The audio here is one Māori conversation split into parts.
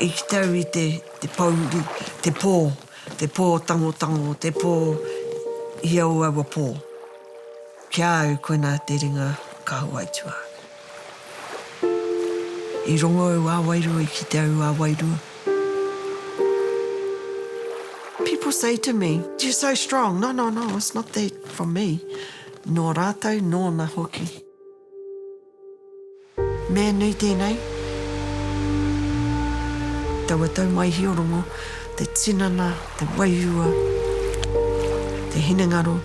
I te tau i te te pōuri, te pō, te pō tangotango, te pō i au aua pō. Ki a au koinā te ringa ka hoaitua. I rongo au a wairua, i kite au a wairua. People say to me, you're so strong, no, no, no, it's not that from me, nō rātou, nōna hoki. Me nui tēnei, taua tau mai Hiorongo, te tinana, te wairua, te hinengaro,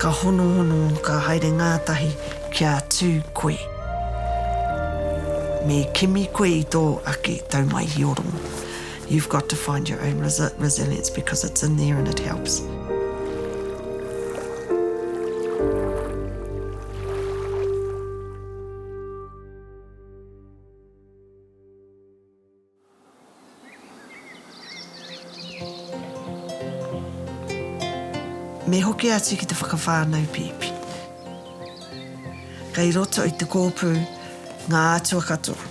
ka honohono, ka haere ngātahi kia tū koe. Me kimi koe i tō ake tau mai Hiorongo. You've got to find your own resilience because it's in there and it helps. Me hoki atu ki te whakawhānau pēpi. Kei roto i te kōpū ngā atua katoa,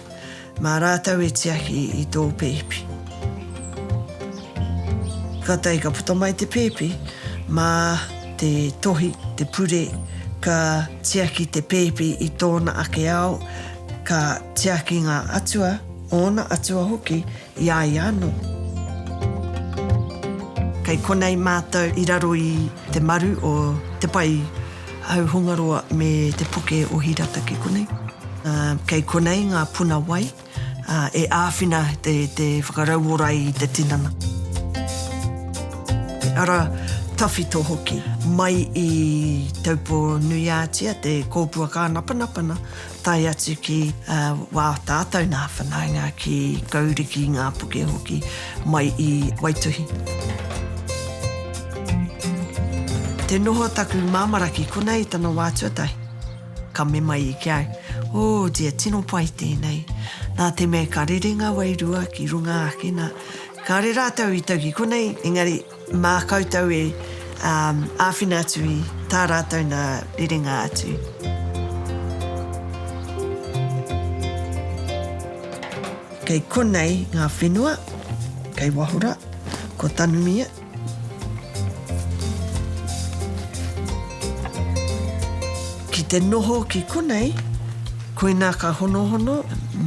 Mā rātou e tiaki i tō pēpi. Kātahi ka puta mai te pēpi, mā te tohi, te pure, ka tiaki te pēpi i tōna ake ao, ka tiaki ngā atua, ōna atua hoki, i a ia anō. Kei konei mātou i raro i te maru o te pae. Hauhongaroa me te puke o Hirata ki konei. Kei konei ngā puna wai e āwhina te whakarauora i te tinana. Te ara tawhito hoki. Mai i Taupo-nui-ā-Tia te kōpua kānapanapana. tae atu ki wā tātou nā whanaunga ki Kauri, ki Ngāpuke hoki, mai i Waituhi. Te noho taku māmara ki konei i tana wā tuatahi, ka mema i ki au, Oh dear, tino pai tēnei. Nā te mea ka rere ngā wairua ki runga ake, nā, kāre rātou i tau ki konei, engari, Mā koutou e āwhina atu i tā rātou nā rerenga atu. Kei konei ngā whenua, kei Wahora, ko Tanumia. Ki te noho ki konei, koinā ka honohono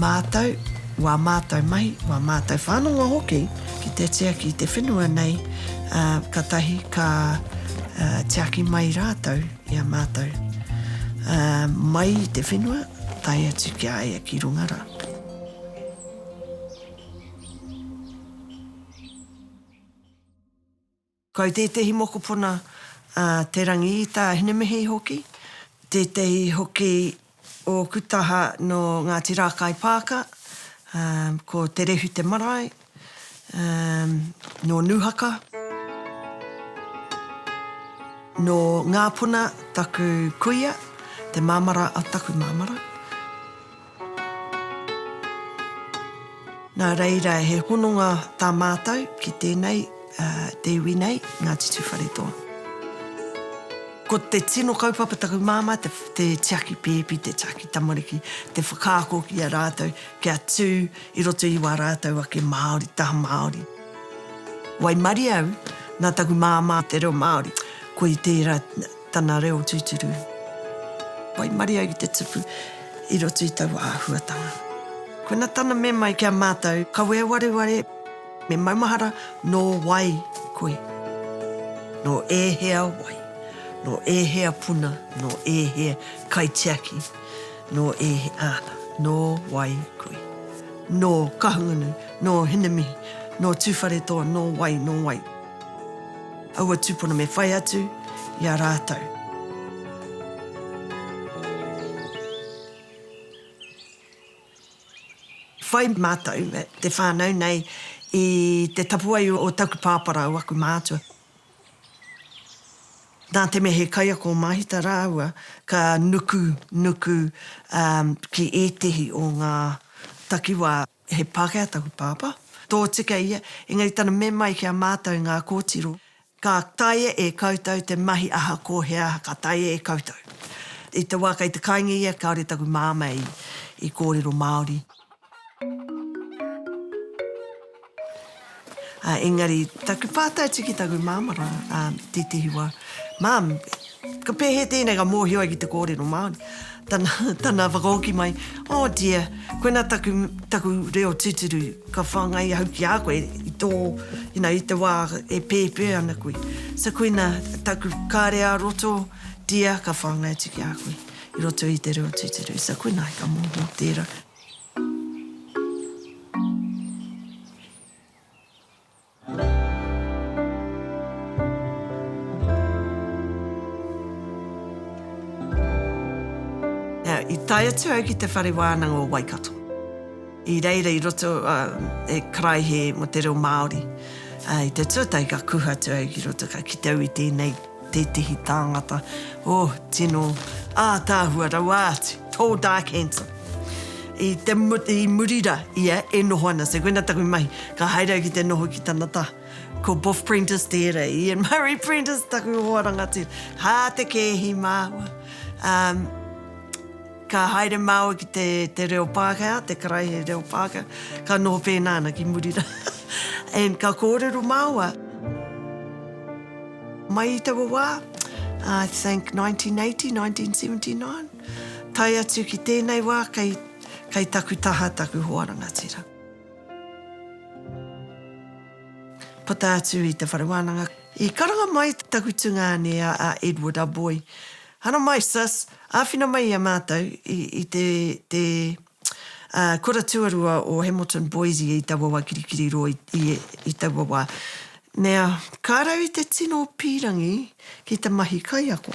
mātou, wā mātou mahi, wā mātou whānanga hoki. Ki te tiaki te whenua nei, ā, ka tahi ka, ā, tiaki mai rātou i a mātou, ā, mai i te whenua, tae atu ki a ia ki runga rā. Kau tētehi mokopuna a Te Rangiita Hinemihi hoki, tētehi hoki ōku taha nō Ngāti Rākaipaaka, ko Te Rehu te marae, nō Nūhaka. Nō Ngāpuna taku kuia, te māmara a taku māmara. Nā reira, he hononga tā mātou ki tēnei, te iwi nei, Ngāti Tūwharetoa. Ko te tino kaupapa taku māmā, te tiaki pēpi, te tiaki tamariki, te whakaako ki a rātou kia tū i roto i wā rātou ake Māori, taha Māori. Waimarie au, nā taku māmā te reo Māori, koe i tērā, Tana reo tūturu. Waimarie ai ki te tupu i roto i taua āhuatanga. Kona tana mema i ki a mātou. Kawe e wareware, me maumahara nō wai koe? Nō ēhea wai? Nō ēhea puna? Nō ēhea kaitiaki? Nō ēhea, āna, nō wai koe? Nō Kahungunu, nō Hinemihi, nō Tūwharetoa, nō wai, nō wai? Aua tūpono me whai atu i a rātou. Whai mātou te whānau nei i te tapuwae o taku pāpā rāua aku mātua. Nā te mea he kaiako o Māhita rāua ka nuku, nuku ki ētehi o ngā takiwā. He Pākehā taku pāpā, tōtika ia, engari tana me mai ki a mātou ngā kōtiro, ka taea e koutou te mahi aha ko he aha ka taea e koutou. I te wā kei te kainga ia kāore taku māmā i kōrero Māori. Ā, engari, taku pātai atu ki taku māmā rā, ā, i tētehi wā, Mum, ka pēhea tēnei ka mōhio ai ki te kōrero Māori? Tana, tana whakahoki mai, Oh, dear, koinā taku, taku reo tūturu, ka whāngai ahau ki a koe i tō, you know, i te wā e pēpē ana koe. So, koinā taku kare ā roto, dear, ka whāngai atu ki a koe i roto i te reo tūturu. So, koinā ka mōhio tērā. I tae atu au ki te Whare Wānanga o Waikato. I reira i roto e karaehe mō te reo Māori. I te tuatahi ka kuhu atu au ki roto ka kite au i tēnei. Tētehi tāngata, oh, tino ātaahua rawa atu, tall, dark, handsome. I te, i muri rā ia e noho ana, so koina taku mahi, ka haere au ki te noho ki tana taha. Ko Boff Prentice tērā, e Ian Murray Prentice, taku hoa rangatira. Hā te kēhi māua, um, ka haere māua ki te, te reo Pākehā, te karaehe reo Pākehā, ka noho pēnā ana ki muri rā, and ka kōrero māua. Mai i taua wā, I think 1980, 1979, tae atu ki tēnei wā kei, kei taku taha taku hoa rangatira. Puta atu i te whare wānanga, i karanga mai taku tungāne a, a Edward Aboi, Haramai sis, āwhina mai i a mātou i, i te, te Ā, kura tuarua o Hamilton Boise i taua wā kirikiri rō i, i, i taua wā. Nea, ka rau i te tino pīrangi ki te mahi kaiako.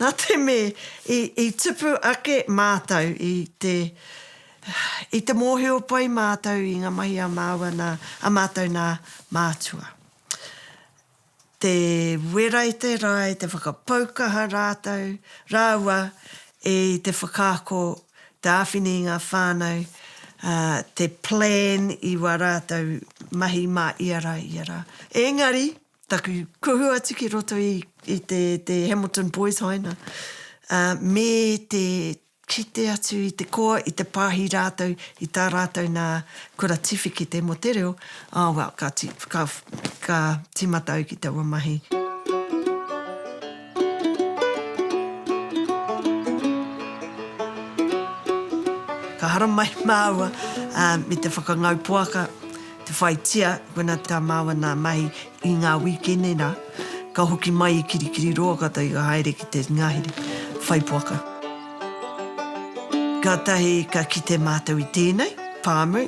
Nā te me i, i tupu ake mātou i te, i te mōhio pai mātou i ngā mahi a māua nā, a mātou nā Mātua. te wera i te rae, te whakapaukaha rātou, rāua i te whakaako, te āwhina i ngā whānau, ā, te plan i wā rātou mahi mā ia rā, ia rā. Engari, taku kuhu atu ki roto i, i te, te Hamilton Boys Haina, ā, me te Kite atu i te koa, i te pāhi rātou i tā rātou nā kura tiwhikete mō te reo, ah well, ka ti, ka, ka tīmata au ki taua mahi. Ka haramai māua, ah, me te whakangau poaka, te whaitia, koina tā māua nā mahi, I ngā wīkene rā, ka hoki mai i Kirikiriroa kata i ka haere ki te ngahere, whaipoaka. Kātahi ka kite mātou i tēnei, pāmu,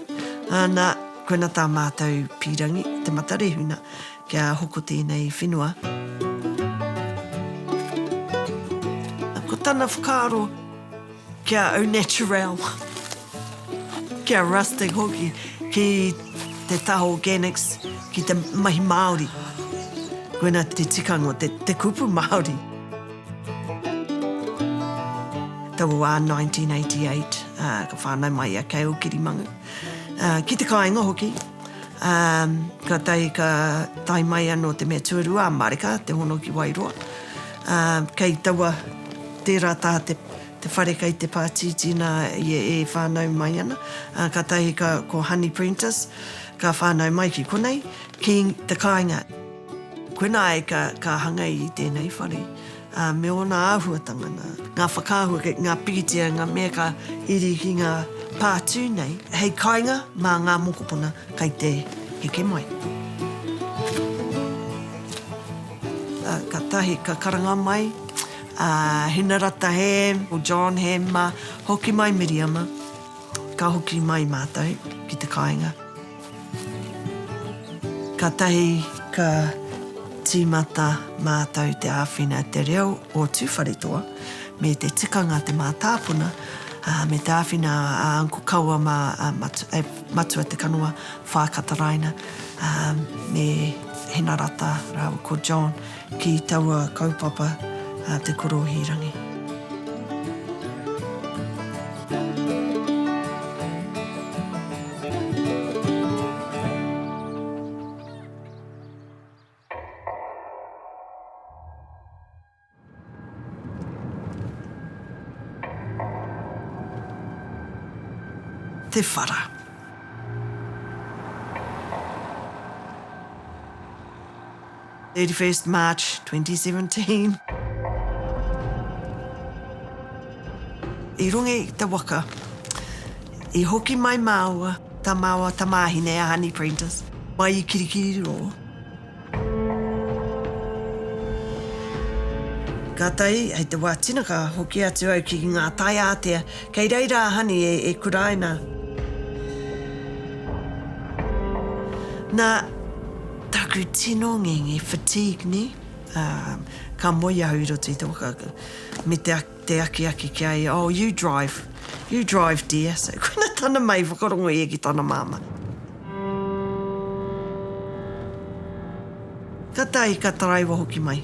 ana, koina tā mātou pīrangi, Te Matarehuna, kia hoko tēnei whenua. Ko tana whakaaro. Kia au naturel, kia rustic hoki ki te taha organics, ki te mahi Māori. Koina te tikanga o te kupu Māori. Tau o wā 1988, ka whānau mai a Kei Ūkirimangu, ki te kāinga hoki. Kātahi ka tae mai anō te mea tuarua a Marika, te hono ki Wairoa. Kei taua, tērā taha te. te whare kei te pātītī nā ia e whānau mai ana, ā, kātahi ka, ko Honey Prentice, ka whānau mai ki konei, ki te kāinga. Koinā ai ka, ka hanga i tēnei whare, ā, me ōna āhuatanga, nā, ngā whakaahua kei ngā pikitia, ngā mea ka iri ki ngā pā tū nei, hei kāinga mā ngā mokopuna kei te heke mai. Ā, kātahi ka karanga mai. A Hinarata Ham, ko John Ham ma, hoki mai Miriama, ka hoki mai matou ki te kainga. Katahi ka timata matou te awhina e te reo o Tuwharetoa me te tikanga te matāpuna, a, me te awhina a Uncle Kaua ma a Matua Te Kanoa Whaakataraina, a, me Hinarata raua ko John. Ki taua kaupapa a Te Korohīrangi. Te whara. 31st March 2017. I runga i te waka, i hoki mai māua, tā māua tamāhine a Honey Prentice, mai i Kirikiriroa. Kātahi, hei te wā tina ka hoki atu au ki ngā tai ātea, kei reira a Honey e, e kuraina. Nā, Taku tino ngingi, fatigue, ne? Ka moe ahau i roto i te waka, me te akiaki ki a ia, Oh, you drive, you drive dear. So, koina tana mahi whakarongo ia ki tana mama. Ka tae, ka taraiwa hoki mai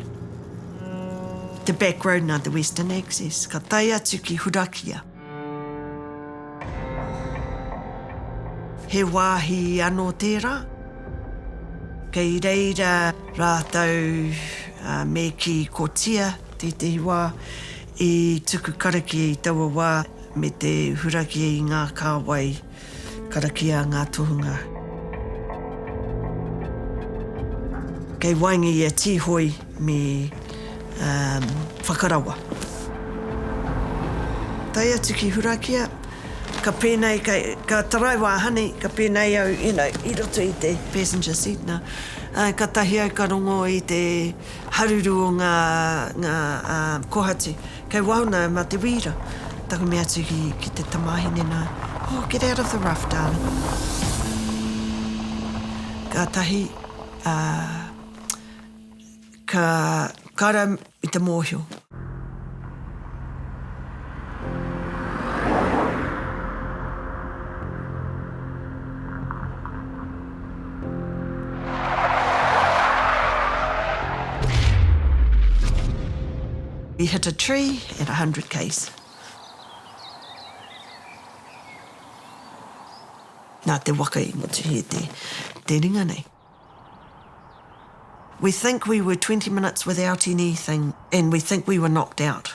te back road na te western access, ka tae atu ki Hurakia. He wāhi anō tērā, kei reira rātou me kī kotia tētehi wā i tuku karakia i taua wā me te hurakia i ngā kāwai. Karakia ngā tohunga. Kei waenga i a Tīhoi me Whakarawa. Tae atu ki Hurakia, ka pēnei, ka taraiwa a Honey, ka pēnei au, you know, i roto i te passenger seat nā. Katahi au ka rongo i te haruru o ngā kohatu. Kei waho nā, mā te wīra. Tango me atu ki, ki te tamāhine nā. Oh, get out of the rough, darling. Kātahi, ā, ka, ka rau i te mōhio. He hit a tree at 100 k's. Nā te waka i mutu he te te ringa nei. We think we were 20 minutes without anything and we think we were knocked out.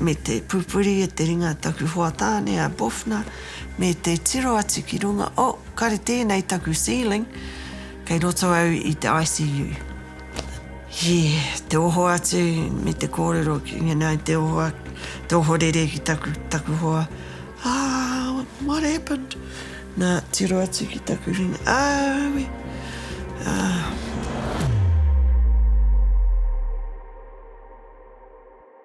me te pupuri e te ringa taku hoa tāne a Boffner me te tiro atu ki runga oh, kare tēnei taku ceiling kei roto au i te ICU he te oho atu me te kōrero ki ngena te oho te oho rere ki taku, taku hoa ah, what happened nā tiro atu ki taku ringa ah, we, ah.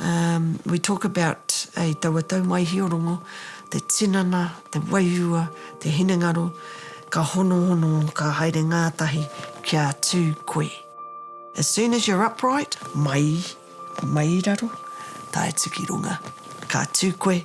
Umm we talk about a taua tau mai Hiorongo, te tinana, te wairua, te hinengaro, ka honohono, ka haere ngātahi kia tū koe. As soon as you're upright, mai, mai raro, tae tuki runga, ka tū koe.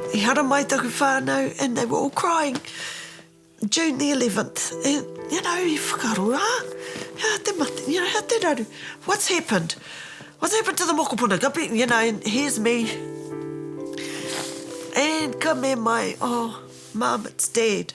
I haramai taku whānau and they were all crying, June the eleventh, and you know, i whakaroa, hea te mate, you know, hea te raru, what's happened? What's happened to the mokopuna? Ka pi, you know, and here's me, and ka me mai, oh, mum, it's dead.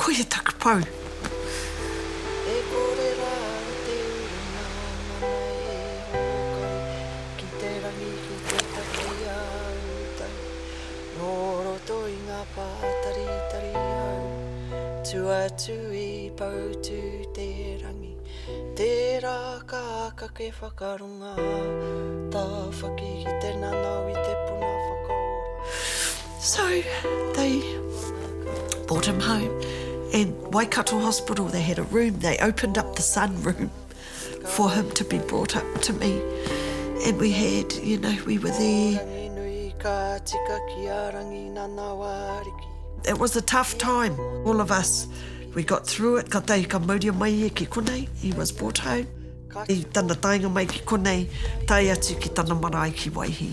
Koia taku pou! E kore rā te urunga nana e hōkai ki te rangi ki te taki a utou nō roto i ngā pātaritari hau tu atu i Poutū-te-rangi tērā ka kake whakarongo. Ngā tāwhaki ki te nanao i te puna whakaora. So they brought him home and Waikato Hospital they had a room they opened up the sun room for him to be brought up to me and we had you know we were there. It was a tough time all of us we got through it ka tahi ka mauria mai ia ki konei he was brought home. I tana taenga mai ki konei, tae atu ki tana marae ki Waihī,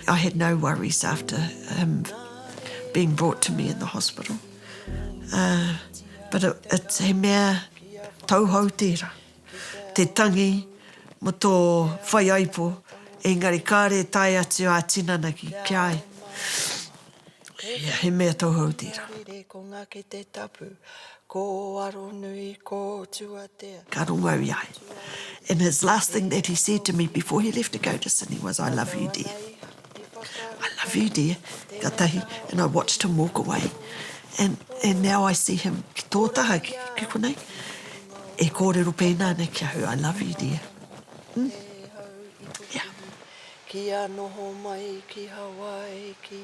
I had no worries after him being brought to me in the hospital. But it's, he mea tauhou tērā, te tangi mō tō whaiaipo, engari kāre e tae atu ā-tinana ki a ia. Ia, he mea tauhou tērā. Makariri, ko Ngake te tapu, ko Aronui, ko Tuatea. Ka rongo au i a ia. And his last thing that he said to me before he left to go to Sydney was, I love you dear. I love you dear, ka tahi, and I watched him walk away. And and now I see him ki tō taha, ki konei, e kōrero pēnā nei ki ahau, I love you dear. Ia. Kia noho mai ki Hawaiiki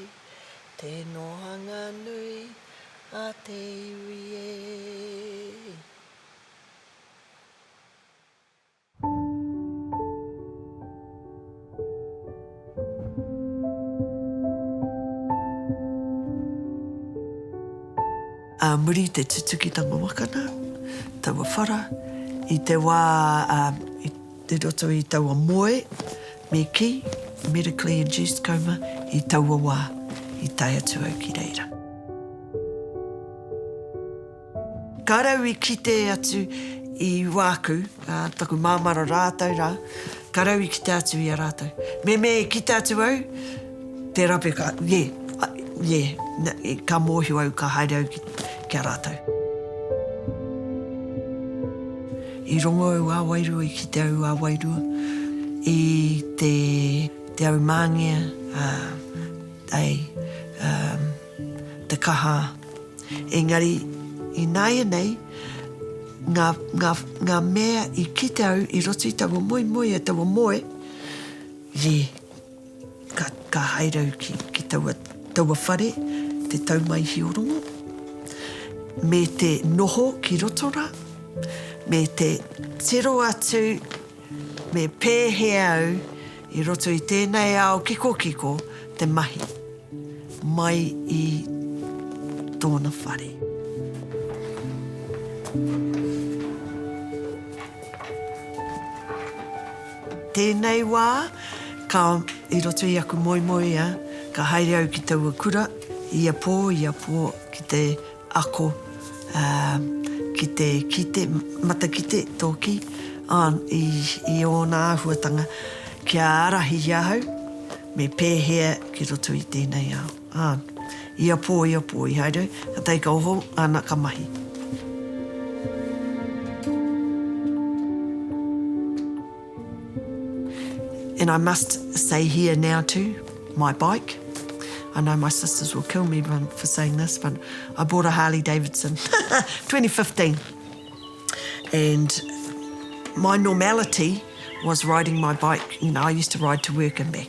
te nohanga nui a te iwi e. Ā muri i te tutukitanga waka nā taua whara, i te wā, ā, i. I roto i taua moe, me kī, medically induced coma, i taua wā, i tae atu au ki reira. Ka rau i kite atu i wāku, ā, taku māmara rātou rā, ka rau i kite atu i a rātou. Mēmē i kite atu au, Te rape ka, yeah, yeah, ka mōhio au, ka haere au ki a rātou. I rongo au a Wairua, i kite au a Wairua, i te au māngea, ai, te kaha. Engari, i nāianei, ngā, ngā, ngā mea i kite au i roto i taua moemoeā, taua moe, yeah. Ka haere au ki taua whare te tau mai Hiorongo, me te noho ki Rotorua, me te tiro atu me pēhea au i roto i tēnei ao kikokiko te mahi mai i tōna whare. Tēnei wā, ka, i roto i aku moemoeā, ka haere au ki taua kura, ia pō, ia pō, ki te ako, ā, ki te kite, matakite, tōki, ā, i, i ōna āhuatanga, kia ārahi i ahau, me pēhea ki roto i tēnei ao. Ā, ia pō, ia pō i haere, ka tae ka oho, ana ka mahi. And I must say here now too, my bike, I know my sisters will kill me for saying this, but I bought a Harley Davidson, 2015, and my normality was riding my bike, you know, I used to ride to work and back.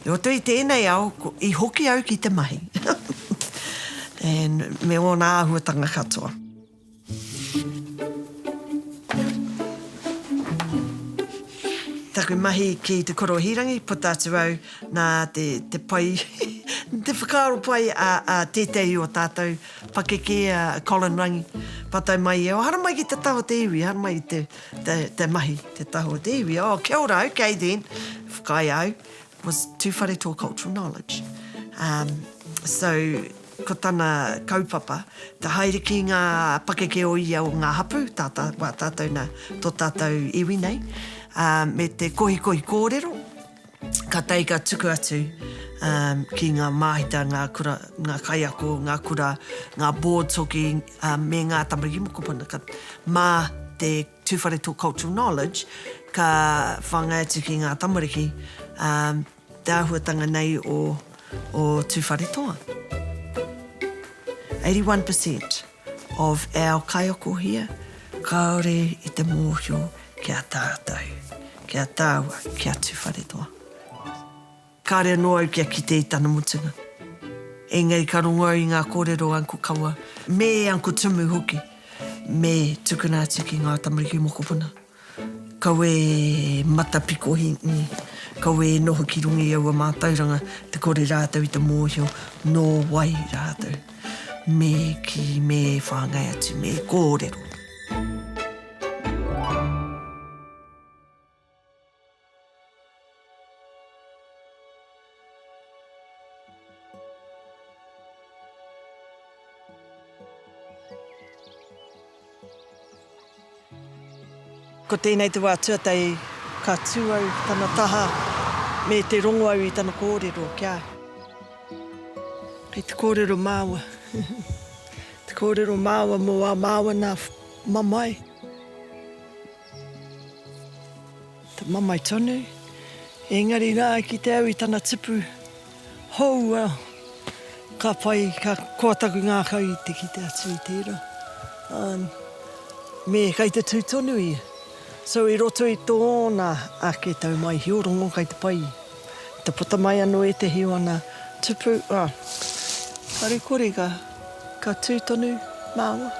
I roto i tēnei ao, i hoki au ki te mahi. And me ōna āhuatanga katoa. Taku mahi ki te korohīrangi, puta atu au nā te, te pai, te whakaaro pai a, a tētehi o tātou pakeke, a Colin Rangi, pātai mai ia, o haramai ki te taha o te iwi, haramai i te, te, te mahi, te tahu o te iwi. Oh, kia ora, okay then, whakaae au, was too whare tō cultural knowledge. Um, so, ko tana kaupapa, te haere ki ngā pakeke o ia o ngā hapu, tā tā, wā tātou nā, tō tātou iwi nei, uh, me te kohikohi kōrero, Ka tae ka tuku atu ki ngā māhita, ngā kura, ngā kaiako, ngā kura, ngā boards hoki me ngā tamariki mokopuna. Ka, mā te Tū Whare Tō Cultural Knowledge, ka whāngai atu ki ngā tamariki te āhuatanga nei o Tū Whare Toa. 81 per cent. Of our kaiokohia, kaore i te mohio ki a tatou, ki a taua, ki a Tuwharetoa. Kare ano au kia kite i tana mutunga. Engari ka rongo au i nga korero o Uncle Kawa, me Uncle Tumu hoki, me tukuna atu ki nga tamariki mokopuna. Kawe matapikohi, i, kawe e noho ki runga i aua mātauranga te kore rātou i te mōhio nō wai rātou me kī, me whāngai atu, me kōrero. Ko tēnei te wā tuatahi ka tū au ki tana taha me te rongo au i tana kōrero kia. Kei te kōrero māua, te kōrero māua mō ā māua nā mamae. Te mamae tonu, engari rā ki te au i tana tipu hou a ka whai, ka koa taku ngākau i te kite atu i tērā. Um, me kai te tū tonu ia. So i roto i tōna ake taumaihi o rongo kai te pai. Te puta mai anō ētehi o ana tupu, kāore kore ka tū tonu māua.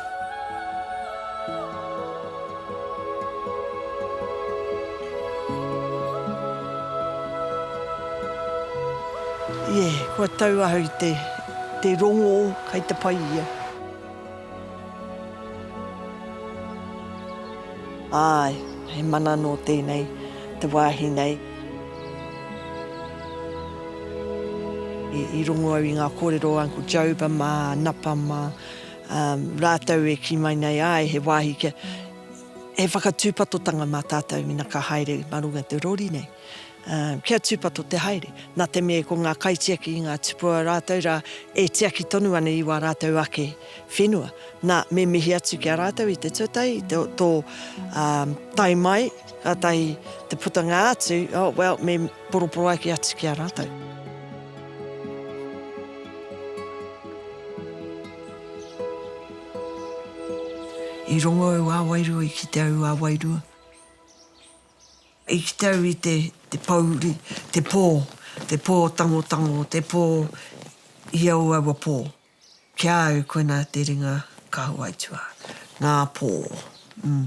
Ie, kua tau ahau i te rongō kai te pai ia. Āe, he mana nō tēnei te wāhi nei. I rongo au i ngā kōrero o Uncle Joba mā Napa mā rātou e kī mai nei, āe, he wāhi kia, he whakatūpatotanga mā tātou mena ka haere mā runga i te rori nei. Kia tūpato te haere. Nā te mea ko ngā kaitiaki i ngā tupua rātou rā e tiaki tonu ana i wā rātou ake whenua. Nā, me mihi atu ki a rātou i te tuatahi, i tō tae mai. Kātahi te putanga atu, oh well, me poroporoaki atu ki a rātou. I rongo au a Wairua, i kite au a Wairua. I kite au i te pōuri, te pō, te pō tangotango, te pō i au aua pō. Ki a au, koinā te ringa Kahawaitua, ngā pō, mm,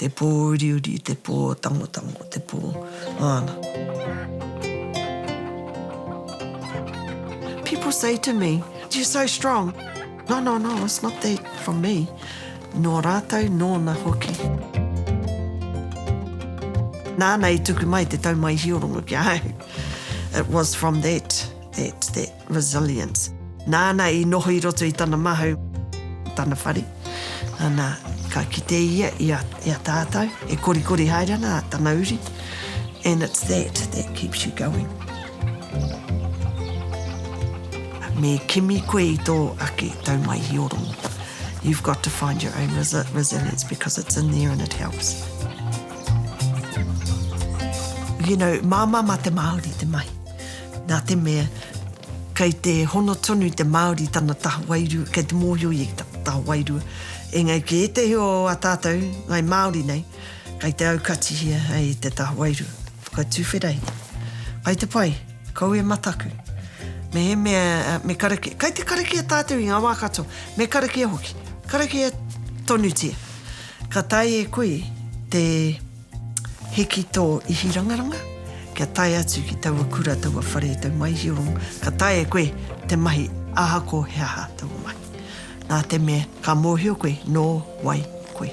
te pō uriuri, te pō tangotango, te pō, āna. People say to me, you're so strong. No, no, no, it's not that from me. Nō rātou, nōna hoki. Nāna i tuku mai te taumaihiorongo ki a au. It was from that, that, that. Resilience. Nāna i noho i roto i tana mahau, tana whare, ana, ka kite ia i a, i a tātou, e korikori haere ana tana uri, and it's that that keeps you going. Me kimi koe i tō ake taumaihioranga. You've got to find your own resilience because it's in there and it helps. You know, māmā mā te Māori te mahi. Nā te mea, kei te hono tonu te Māori tana taha wairua, kei te mōhio ia ki tana taha wairua. Engari ki ētehi o ā tātou ngai Māori nei, kei te aukatihia hei te taha wairua. Whakatuwhera ia. Kai te pai, kau e mataku. Mehemea me karakia, kei te karakia tātou i ngā wā katoa, me karakia hoki, karakia tonutia. Ka taea e koe te. Hiki tō ihirangaranga, kia tae atu ki taua kura, taua whare, tau maihiorong, ka tae e koe te mahi ahako he aha taua mahi. Nā te mea, ka mōhio koe nō wai koe.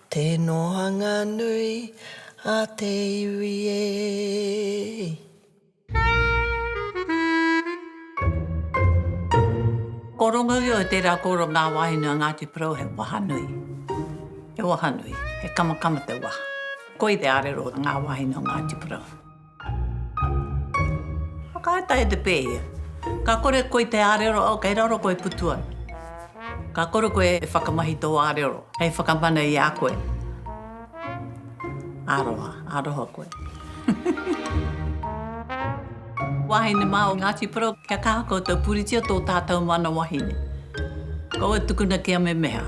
Te nohanga nui a te iwi e. Ko Rongoio te rā koro ngā wāhine o Ngāti Porou he waha nui. He waha nui, he kamakama te waha. Koi te arero o ngā wāhine o Ngāti Porou. Whakaata e te pē ia. Ka kore koi te ārero au kei raro koe putu ana. Ka kore koe e whakamahi tō ārero hei whakamana i a koe. Aroha, aroha koe. Wahine mā o Ngāti Porou, kia kaha koutou puritia tō tātou mana wahine. Kaua tukuna kia memeha.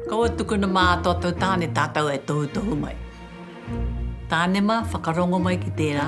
Kaua tukuna mā a tōtou tāne tātou e tohutohu mai. Tānema, whakarongo mai ki tērā.